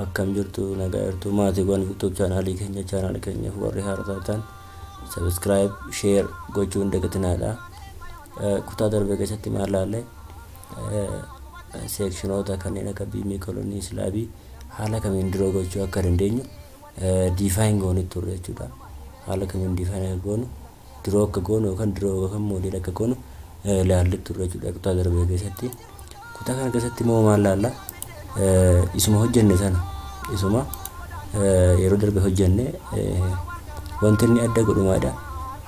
akkam jirtu nagaa jirtu maatiiwwan youtube chaanaalii keenya chaanaal keenyaaf warri haaraa taatan sabiskiraayib sheer gochuun dagatinaa kutaa darbee keessatti maal laalle seekshinoota kanneen akka biimii kolonii islaabii haala kamiin dura gochuu akka dandeenyu define goonu turre jechuudha. Haala kamiin define akka goonu dura akka goonu yookaan dura yookaan model akka goonu ilaalle turre jechuudha kutaa darbe keessatti. Kutaa kana keessatti immoo maal laalla? Isuma hojjenne sana isuma yeroo darbe hojjenne wanti inni adda godhu maalidha?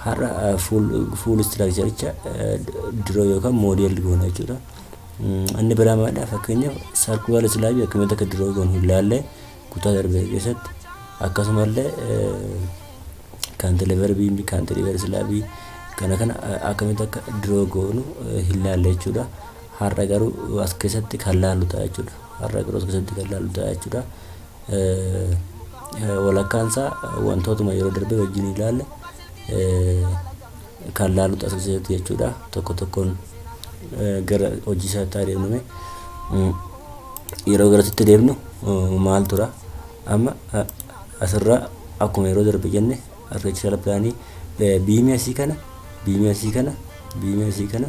Har'a fuul istiraakcharicha dura yookaan model goona jechuudha. Inni biraa maalidha? Fakkeenyaaf sarkuwaal islaabii akkamitti akka diroo goonu hin laalle kutaa darbe keessatti akkasumallee kaantileevarbii kaantileevar islaabii kana kana akkamitti akka diroo goonu hin laalle jechuudha. Har'a garuu as keessatti kan laallu ta'a jechuudha. Har'a garuu as keessatti kan laallu ta'a jechuudha. Walakkaan isaa wantootuma yeroo darbe wajjin ilaalle kan laalu taasiseeti jechuudha. Tokko tokkoon gara hojii isaatti haa deemnume. Yeroo garasitti deemnu maal tura? Amma asirraa akkuma yeroo darbe jenne arkitekchiraal pilaanii biimii asii kana biimii asii kana biimii asii kana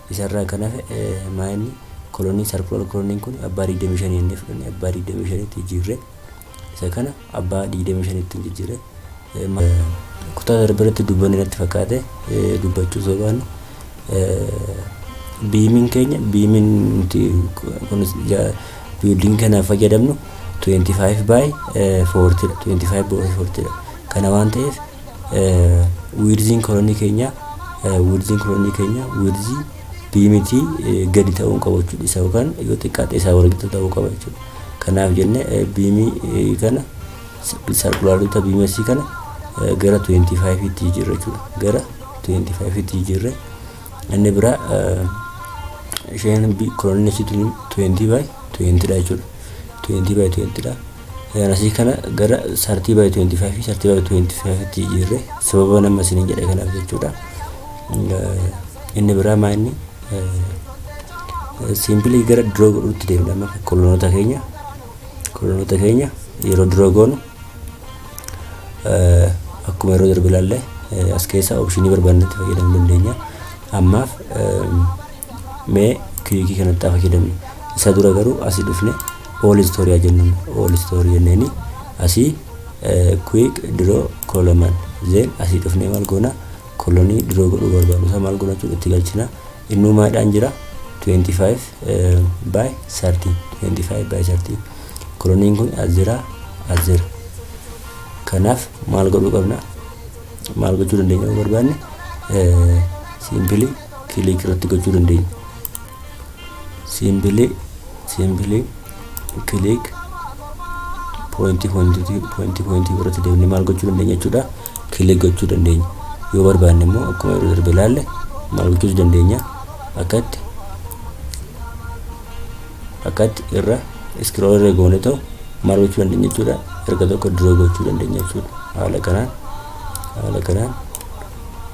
Isa irraa kan hafe maa inni kolonii sarkular koloniin kun abbaa 25 inni fudhanne abbaa 25tti jijjiirre isa kana abbaa 25tti hin jijjiirre. Kutaa darbe irratti dubbanne natti fakkaate dubbachuu osoo baannu biimiin keenya biimiin nuti kun biildiingi kanaaf fayyadamnu 25 by 40 dha 25 by 40 dha kana waan ta'eef wiirziin kolonii keenya wiirziin kolonii keenya wiirzii biimitii gadi ta'uun qabu jechuudha isa yookaan yoo xiqqaate isaa walgitu ta'uu qaba jechuudha kanaaf jenne biimii kana sarkulaarota biimesii kana gara 25 tti jijjiirra jechuudha gara 25 tti jijjiirre inni biraa isheen kolonii ishiitiin 20 by 20 dha jechuudha 20 by 20 dha Gaarasii kana gara 30 by 25 fi 30 by 25 tti jijjiirre sababa nama isiniin jedhe kanaaf jechuudha. Inni biraa maa inni siimpilii gara duroo godhuutti deemna amma kolonoota keenya kolonoota keenya yeroo duroo goonu akkuma yeroo darbe ilaalle as keessa opshinii barbaannetti fayyadamuu dandeenya. Ammaaf Mee kiriikii kanatti fayyadamne. Isa dura garuu asii dhufne all story haa jennuun all story jenneeni asii quick draw column zeen asii dhufne maal goona kolonii draw godhuu barbaadu isaa maal goona jechuudha itti galchina innuu maadhaan jira 25 by 30 25 by 30 koloniin kun as jira as jira kanaaf maal godhuu qabna maal gochuu dandeenya yoo barbaanne siimpilii Kiliik irratti gochuu dandeenya. Siimbilee siimbilee kiliik poointii poointii poointii poointii irratti deemnee maal gochuu dandeenya jechuudha. Kiliik gochuu dandeenya. Yoo barbaanne immoo akkuma yeroo darbe ilaalle maal gochuus dandeenya. Akkatti akkatti irra iskirool irra goone ta'u maal gochuu dandeenya jechuudha. Erga tokko duroo gochuu dandeenya jechuudha. Haala kanaan haala kanaan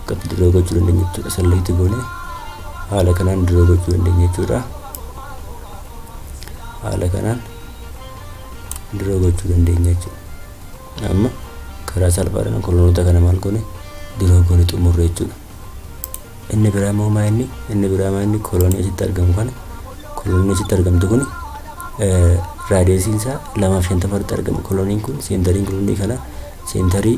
akka dirroo gochuu dandeenya jechuudha salleetti goone haala kanaan dirroo gochuu dandeenya jechuudha haala kanaan dirroo gochuu dandeenya jechuudha amma karaa salphaadhaan kolonoota kana maal goone dirroo goone xumurre jechuudha inni biraa immoo maa inni inni biraa maa inni kolonii asitti argamu kana kolonii asitti argamtu kun raadiyeesiin isaa lamaaf shantama irratti argama koloniin kun seentariin kolonii kana seentarii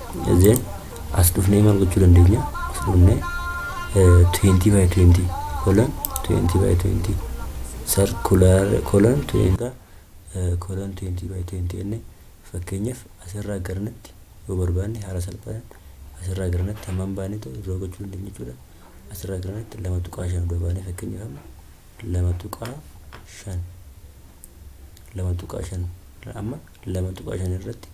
Then as dhufnee maal gochuu dandeenya? As dhufnee eh, 20 by 20 colon 20 by 20 circular colon 20 eh, colon 20 by 20 jenne fakkeenyaaf asirraa garanatti yoo barbaanne haala salphaan asirraa garanatti hammam baanee ta'u irraa gochuu dandeenya jechuudha. Asirraa garanatti lama tuqaa shan dura baanee fakkeenyaaf amma lama tuqaa shan lama tuqaa shan amma lama tuqaa shan irratti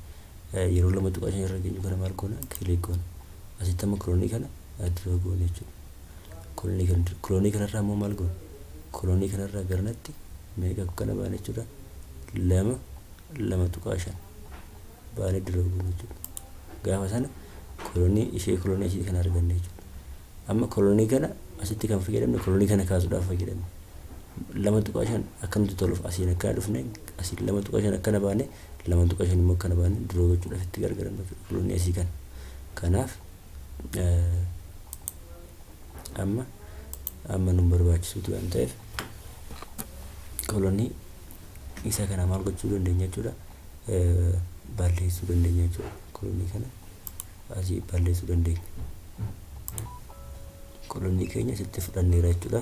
Yeroo 2.5 irra geenyu kana maal goona? Click goona. Asitti amma kiloonii kana dura goona jechuudha. Kiloonii kana dura. Kiloonii kanarraa immoo maal goona? Kiloonii kanarraa garanatti meeqa akka kana baana jechuudha? Lama lama tuqaa shan baanee dura goona jechuudha. Gaafa sana kiloonii ishee kiloonii asii kana arganne jechuudha. Amma kiloonii kana asitti kan fayyadamne kiloonii kana kaasuudhaaf fayyadamne. lama tuqaa shan akkamti toluuf asiin akkana dhufne asiin lama tuqaa shan akkana baane 2.5 immoo akka na baane duroo gochuudhaaf itti gargaaramna jechuudha fuloonni asii kana. Kanaaf amma amma nun barbaachisuuti waan ta'eef kolonii isa kana maal gochuu dandeenya jechuudha balleessuu dandeenya jechuudha kolonii kana asii balleessuu dandeenya kolonii keenya sitti fudhanneera jechuudha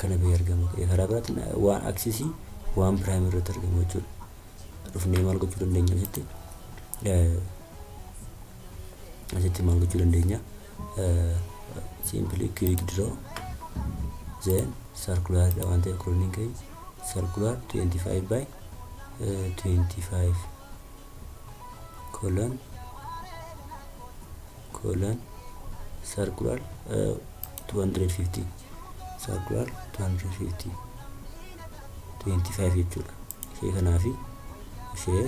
kana bahee argama ta'e karaa biraatiin waan aksisii waan piraayim irratti argamu jechuudha. Dhufnee maal gochuu dandeenya asitti? Asitti maal gochuu dandeenya? Simply click draw then circular dha waan ta'eef kurniin keenya circular 25 by 25 colon colon circular 250 isaa du'aal 250 25 jechuudha ishee kanaa fi ishee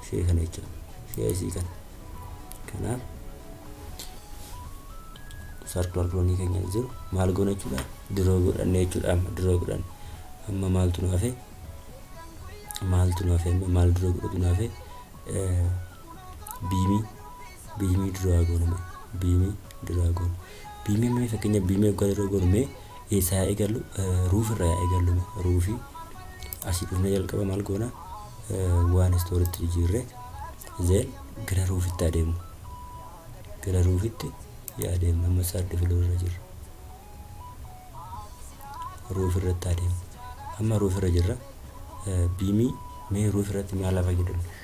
ishee kana jechuudha ishee isii kana kanaaf sarkular piroonii keenya jiru maal goona jechuudha diroo godhanne jechuudha amma diroo godhanne amma maaltu nu hafe maaltu nu hafe amma maal diroo godhatu nu hafe biimii biimii duraa goona mee biimii duraa goona biimii mee fakkeenya biimii akka dura goonu mee eessaa haa eegallu ruuf irraa haa eegallu mee ruufii asii dhufnee jalqaba maal goona waan istooritti jijjiirree zeen gara ruufitti adeemu gara ruufitti yaa adeemu amma saardi filoo irra jirra ruuf irratti adeemu amma ruuf irra jirra biimii mee ruuf irratti maal hafa jedhamu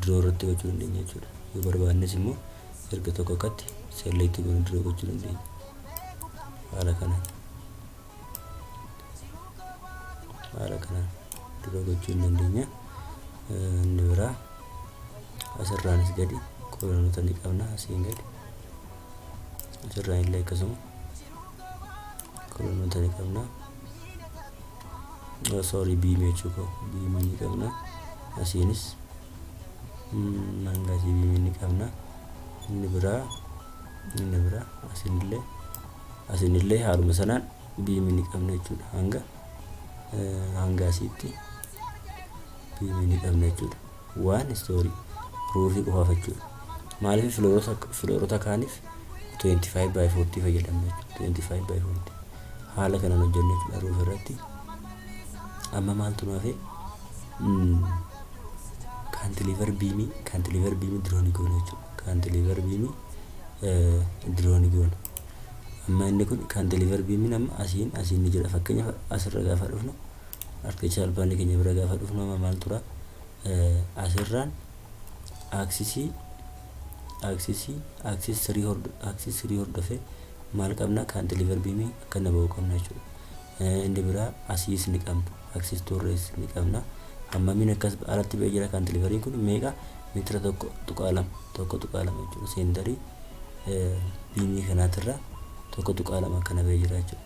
Draw irratti gochuu dandeenya jechuudha. Yoo barbaannes immoo erga tokko akkatti select goone draw gochuu dandeenya. Haala kanaan. Haala kanaan draw gochuu hin dandeenya. Inni biraa asirraanis gadi kolonota ni qabna asiin gadi. Asirraan illee akkasuma kolonota ni qabna. sorry B mechuu koo B ni qabna asiinis hanga asii B ni qabna inni biraa inni biraa asinillee asinillee haaluma sanaan B ni qabna jechuudha hanga hanga asiitti B ni qabna jechuudha. One story ruufii qofaa fachuudha. Maaliif filoorota filoorota kaaniif 25 by 40 fayyadamna jechuudha. 25 by 40 haala kanaan hojjenna jechuudha ruuf irratti. Amma maaltu nu hafe? Kaantiliivar biimii kaantiliivar biimii diroonii goona jechuudha. Kaantiliivar biimii diroonii goona. Amma inni kun kaantiliivar biimiin amma asiin asiin ni jira. Fakkeenyaaf asirra gaafa dhufnu Harkicha albaanni keenya bira gaafa dhufnu amma maal tura? Asirraan aaksisii aaksisii aaksis sirii hordo aaksis sirii hordofee maal qabna kaantiliivar biimii akkana ba'uu qabna jechuudha. Inni biraa asiis ni qabna aaksis tuurrees ni qabna. Hammamiin akkas alatti ba'ee jira kaantiliivariin kun meeqa meetira tokko tuqaa lama tokko tuqaa lama jechuudha. Seendarii biimii kanaatirra tokko tuqaa lama akkana ba'ee jira jechuudha.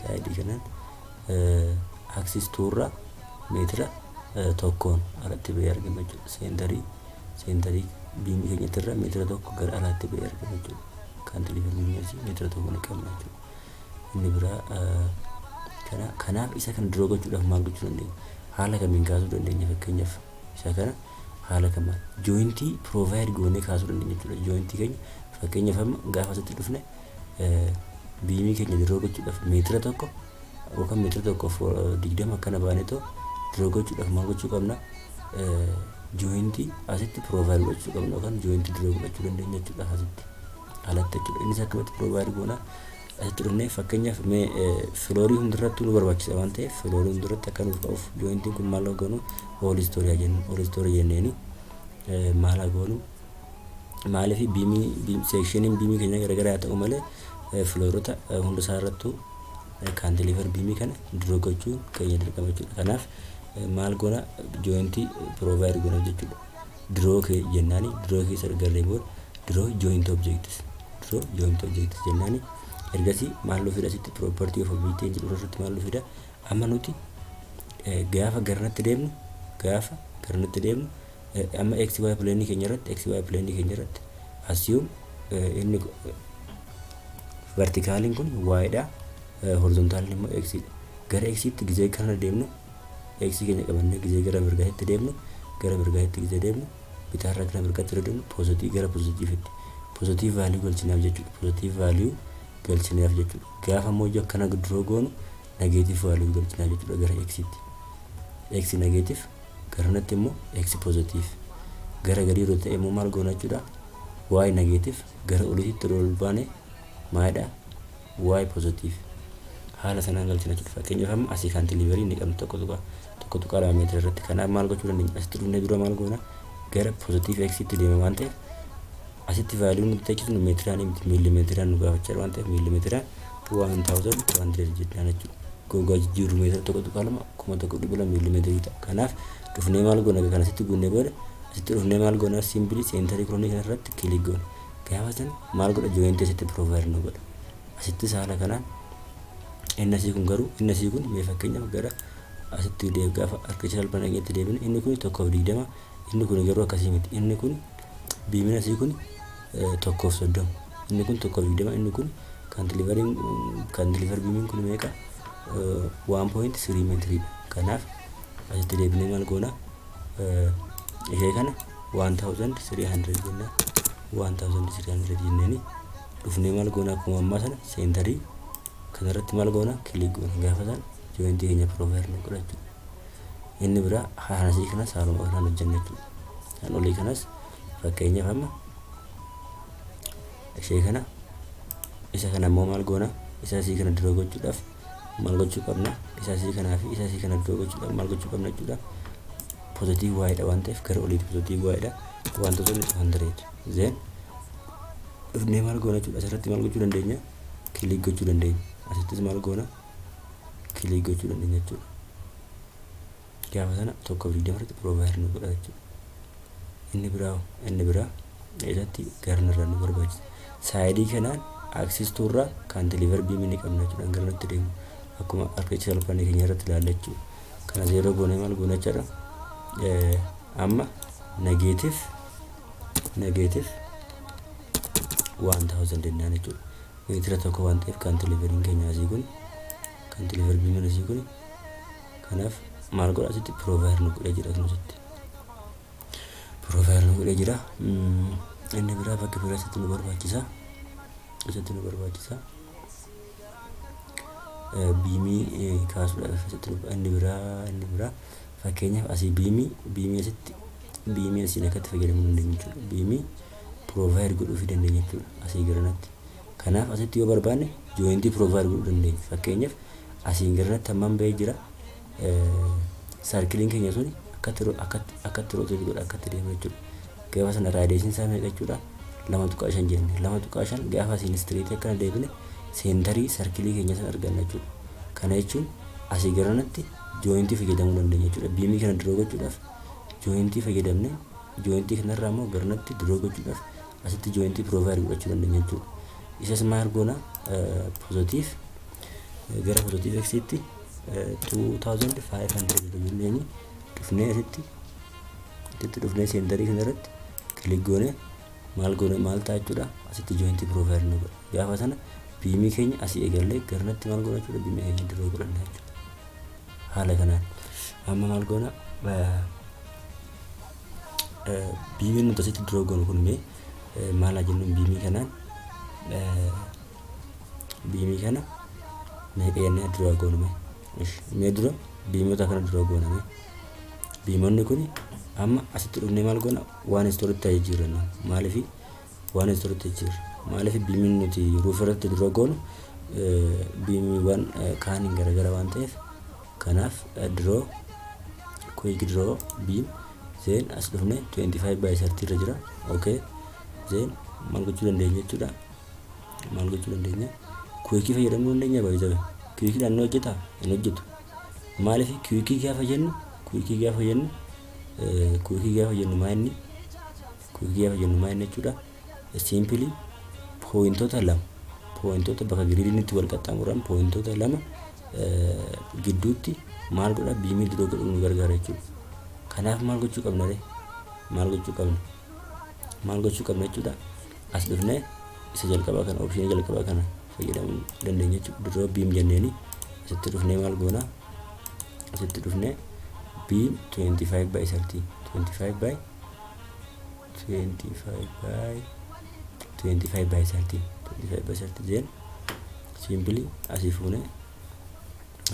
saayidii kanaan axis 2 irra meetira tokkoon alatti ba'ee argama jechuudha. Seentarii seentarii biimii keenyatti irra meetira tokko gara alaatti ba'ee argama jechuudha. Kaantileevar biimii asii meetira tokko ni qabna jechuudha. Inni biraa kana kanaaf isa kana duroo gochuudhaaf maal gochuu dandeenya? Haala kamiin kaasuu dandeenya fakkeenyaaf isa kana haala kamaan jooyintii piroovaayid goonee kaasuu dandeenya jechuudha. Jooyintii keenya fakkeenyaaf amma gaafa asitti dhufne biimii keenya diroo gochuudhaaf meetira tokko yookaan meetira tokkoof digdama akkana baanetoo diroo gochuudhaaf maal gochuu qabna jooyintii asitti piroovaayid godhachuu qabna yookaan jooyintii diroo godhachuu dandeenya jechuudha asitti alatti jechuudha innis akkamitti piroovaayid goona asitti dhufnee fakkeenyaaf mee filoorii hundarratti nu barbaachisa waan ta'eef filoorii hundarratti akka nuuf ka'uuf jooyintiin kun maal goonu oolistooriyaa jennu oolistooriyaa jenneeni maal goonu Maaliif biimii biim- seekshiniin biimii keenya garagara haa ta'u malee eh, filoorota eh, hunda isaa irrattuu eh, kaantileevar biimii kana diroo gochuun keenya dirqama jechuudha. Kanaaf eh, maal goona jooyintii piroovaayid goona jechuudha. Diroo kee jennaani diroo keessa garree booda diroo jooyinti objektis diroo jooyinti objektis jennaani ergasii maal nu fida asitti piroopartii of objektii jedhu irratti maal nu fida amma nuti eh, gaafa garratti deemnu gaafa garratti deemnu Amma xy plane keenya irratti xy plane keenya irratti assume inni vertikaaliin kun y dha horizontaaliin immoo x dha. Gara x tti gizee kana deemnu x keenya qabannee gizee gara mirgaatti deemnu gara mirgaatti gizee deemnu bitaarraa gara mirgaatti irra deemnu poozatii gara poozatiivitti poozatii vaaliyuu galchinaaf jechuudha poozatii vaaliyuu galchinaaf jechuudha gaafa immoo ijoo akkana duroo goonu nageetiif vaaliyuu galchinaaf jechuudha gara x tti x nageetiif garanatti immoo x positive gara gadii yeroo ta'e immoo maal goona jechuudha y negative gara oliititti yeroo ol baane maalidha y positive haala sanaan galchina jechuudha fakkeenyaaf amma asii kaantiliiverii inni qabnu tokko tuqaa tokko tuqaa lama meetira irratti kanaaf maal gochuu dandeenya asitti dhufnee dura maal goona gara positive x itti deema waan ta'eef asitti vaaliyuu nuti tachiisnu meetiraan miti miilimeetiraan nu gaafachaa waan ta'eef miilimeetiraan 1000 jidhaan jechuudha. Gogaa jijjiirru meetira 1.2 kuma 1.2 miilimeetirii ta'a. Kanaaf dhufnee maal goona kana asitti guunnee booda asitti dhufnee maal goona simpilii seentarii kiroonii kana irratti kilik goona. Gaafa san maal godha jooyintii asitti piroovaayil nu godha. Asittis haala kanaan inni asii kun garuu inni asii kun mee fakkeenyaaf gara asitti deeb gaafa arkicha salphaan dhageetti deebine inni kun tokkoof digdama inni kun garuu akkasii miti inni kun biimina asii kun 1:30. Inni kun 1:20 inni kun kaantilivariin kaantilivar biimiin kun meeqa 1.3 meetirii dha. Kanaaf asitti deebinee maal goona ishee kana 1300 jenna 1300 jenneeni dhufnee maal goona akkuma ammaa sana seentarii kanarratti maal goona kilik goona gaafa sana jooyintii keenya piroovaayir nu godha jechuudha. Inni biraa haanasii kanas haaluma kanaan hojjenna jechuudha. Kan olii kanas fakkeenyaaf amma ishee kana isa kana immoo maal goona isa asii kana dura gochuudhaaf maal gochuu qabna isa asii kanaa fi isa asii kana dura gochuudhaaf maal gochuu qabna jechuudha pozitiiv waa'eedha waan ta'eef gara oliitti pozitiiv waa'eedha wantoota inni tuhan dareetu zeen dhufnee maal goona jechuudha asirratti maal gochuu dandeenya kiliik gochuu dandeenya asittis maal goona kiliik gochuu dandeenya jechuudha gaafa sana tokko fi digdama irratti provider nu godha jechuudha. Inni biraa inni biraa isatti garna irraa nu barbaachisa. Saayidii kanaan aksistuu irraa kan deliver biimii ni qabna jechuudha gara nutti deemu. Akkuma architectural plan keenya irratti ilaalla jechuudha. Kana zeeroo goonee maal goona jechuudha. Amma negeetif negeetif waan taawusan dennaan jechuudha. Meetira tokko waan ta'eef kan deliverin keenya asii kun kan deliver biimiin asii kun Kanaaf maal godha asitti provider nu godhee jira kun asitti. Provider nu godhee jira. Inni biraa bakka biraa asitti nu barbaachisa. Asitti nu barbaachisa. Biimii kaasuudhaaf asitti nu inni biraa inni biraa fakkeenyaaf asii biimii biimii asitti biimii asiin akkatti fayyadamuu dandeenya jechuudha. Biimii provider godhuufii dandeenya jechuudha asii garanatti. Kanaaf asitti yoo barbaanne jointii provide godhuu dandeenya. Fakkeenyaaf asiin garratti hammam ba'ee jira. Sarkiliin keenya suni akkatti ro- akkatti akkatti roteetii godha akkatti deema jechuudha. Gaafa sana raadiyeeshin isaa meeqa jechuudha? lama tuqaa shan jenne. Lama tuqaa shan gaafa asiin istiriitii akkana deebine seentarii sarkilii keenya sana arganna jechuudha. Kana jechuun asii garanatti jointii fayyadamuu dandeenya jechuudha. Biimii kana diroo gochuudhaaf jointii fayyadamne Jointii kana irraa immoo garnatti draw gochuudhaaf asitti jointii provide godhachuu dandeenya jechuudha. Isas maal goona positive gara positive x tti 2500 jenneenyi dhufnee asitti asitti dhufnee seendarii kana irratti kilik goone maal goone maal ta'a jechuudha asitti jointii provide nu godha. Gaafa sana biimii keenya asii eegallee garnatti maal goona jechuudha biimii keenya draw godhanna jechuudha. Haala kanaan amma maal goona Biimiin nuti asitti duroo goonu kun mee maal haa jennuun biimii kanaan biimii kana meeqa jennee duroo goonu mee mee dura biimota kana duroo goona mee biimonni kun amma asitti dhufnee maal goona waan istoritti ta'ee jiru jenna maaliif waan istoritti jiru maaliif biimiin nuti ruuf irratti duroo goonu biimiiwwan kaaniin garagara waan ta'eef Kanaaf draw quick draw beam then as dhufne 25 by 30 irra jira okay then maal gochuu dandeenya jechuudha maal gochuu dandeenya kuwikii fayyadamuu dandeenya baay'ee kuwikii dhaan ni hojjeta hin hojjetu maaliif kuwikii gaafa jennu kuwikii gaafa jennu kuwikii gaafa jennu maa inni kuwikii gaafa jennu maa inni jechuudha Simply pooyintota lama pooyintota bakka giriidiinitti wal qaxxaamuran pooyintota lama gidduutti maal godha biimii diroo godhuu nu gargaara jechuudha. Kanaaf maal gochuu qabna ree? Maal gochuu qabna? Maal gochuu qabna jechuudha? As dhufnee isa jalqabaa kana oopshinii jalqabaa kana fayyadamuu dandeenya jechuudha. Diroo biim jenneeni asitti dhufnee maal goona? Asitti dhufnee biim 25 by 30 25 by 25 by 25 by 30 25 by 30 jeen siimpili asii fuune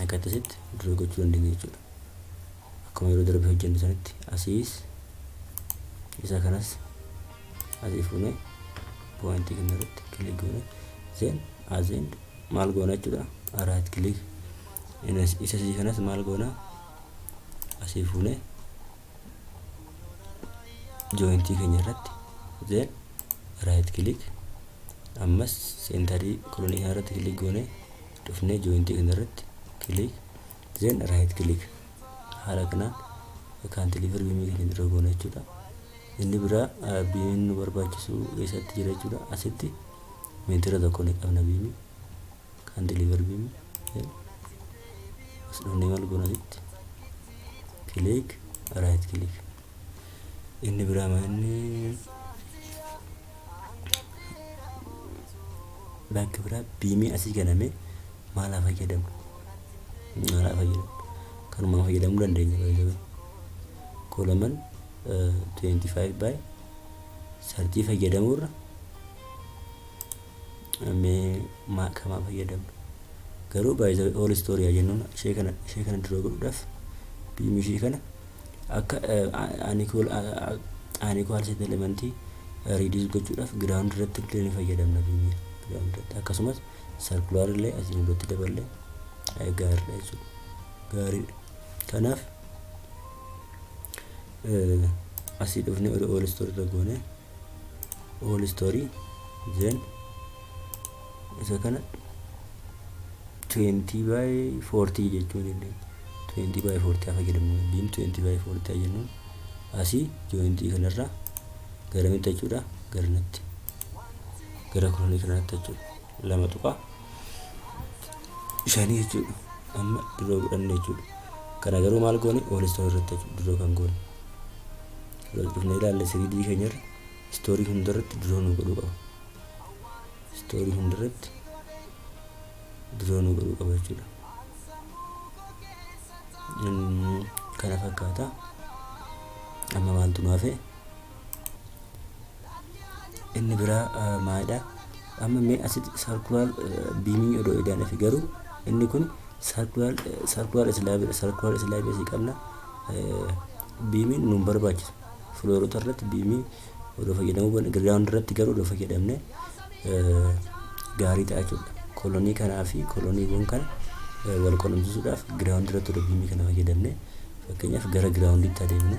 akka akkasitti dura gochuu dandeenya jechuudha. Akkuma yeroo darbe hojjenne sanitti asiis isa kanas asii fuune poointii kana irratti kilik goone zeen azeen maal goona jechuudha araat kilik isa sii kanas maal goona asii fuune jointii keenya irratti then right click ammas seentarii kolonii kana irratti click goone dhufnee jointii kana irratti click then right click haala kanaan kan deliver biimii keenya dura goona jechuudha inni biraa ah, biimiin nu barbaachisu eessatti jira jechuudha asitti meetira tokko ni qabna biimii Kan deliver beam as dhufnee maal goona asitti click right click inni biraa maa inni bakki biraa biimii asii ganame maal haa fayyadamu maal haa fayyadamu kanumaan fayyadamuu dandeenya baay'ee kolaman 25 by 30 fayyadamuurra mee maa kamaa fayyadamnu garuu by the way all story yaa jennuun ishee kana ishee kana dura godhuudhaaf biim ishee kana akka aanikool aanikoo alseet elementii riidiis gochuudhaaf giraawundi irratti illee ni fayyadamna biimii giraawundi irratti akkasumas sarkulaar illee asiin irratti daballee gaariidha jechuudha gaariidha kanaaf asii dhufnee ol ol istorra goonee all story then isa kana 20 by 40 jechuu dandeenya 20 by 40 akka jedhamu beam 20 by 40 jennuun asii jointii kanarraa gara mitti jechuudha gara natti gara kolonii kanatti jechuudha lama tuqaa shanii jechuudha amma duroo godhanne jechuudha kana garuu maal goone oolistoon irratti jechuudha duroo kan goone galchifnee ilaalla 3D keenyarra istoorii hundarratti duroo nu godhuu qaba. Istoorii hundarratti duroo nu godhuu qaba jechuudha. Mm, Kana fakkaata. Amma maaltu nu hafe? inni biraa maalidha amma mee asitti sarkulaar biimii odoo edaan fi garuu inni kun sarkulaar sarkulaar islaabidha sarkulaar islaabii asii qabna biimiin nuun barbaachisa filoorota irratti biimii odoo fayyadamuu baanne giraawundi irratti garuu odoo fayyadamne gaarii ta'a jechuudha kolonii kanaa fi koloniiwwan kana wal qunnamsiisuudhaaf giraawundi irratti odoo biimii kana fayyadamne fakkeenyaaf gara giraawundiitti adeemna.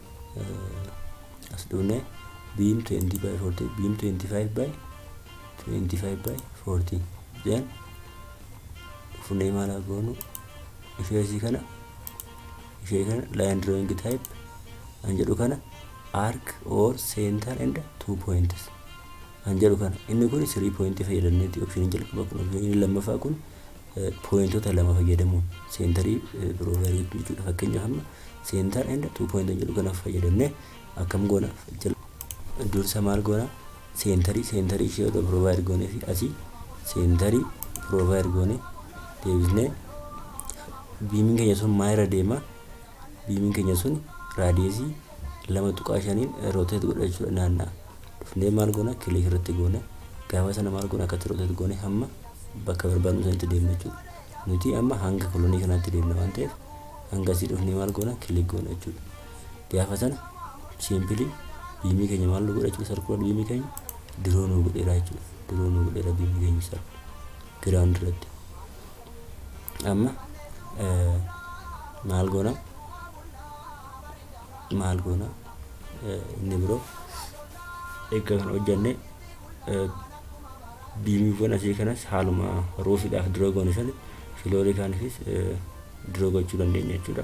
as dhuunee biin 20 by 40 biin 25 by 25 by 40 jeen dhufnee maal haa goonu ishee isii kana ishee kana line drawing type an jedhu kana arc or center and two points an jedhu kana inni kun 3 point fayyadamneeti option jalqaba kun option lammaffaa kun pooyintota lama fayyadamuun seentarii piroovaayidii gochuu jechuudha. Fakkeenyaaf amma seentar and tuu pooyinta jedhu kana fayyadamne akkam goona dursa maal goona seentarii seentarii ishee odoo piroovaayid goonee fi asii seentarii piroovaayid goonee deebisnee biimiin keenya sun maa irra deema biimiin keenya sun raadiyeesii lama tuqaa shaniin rooteet godha jechuudha naanna'a. dhufnee maal goona click irratti goona gaafa sana maal goona akkatti rotate goone hamma bakka barbaadnu sanitti deemna jechuudha nuti amma hanga kolonii kanaatti deemna waan ta'eef hanga asii dhufnee maal goona click goona jechuudha gaafa sana siimpilii biimii keenya maal nu godha jechuudha sarkular biimii keenya diroo nu godheera jechuudha diroo nu godheera biimii keenya sarku giraawundi irratti amma maal goona maal goona inni biroo eegga kana hojjanne biimiiwwan asii kanas haaluma roofiidhaaf dura goone sana filoorikaanifis dura gochuu dandeenya jechuudha.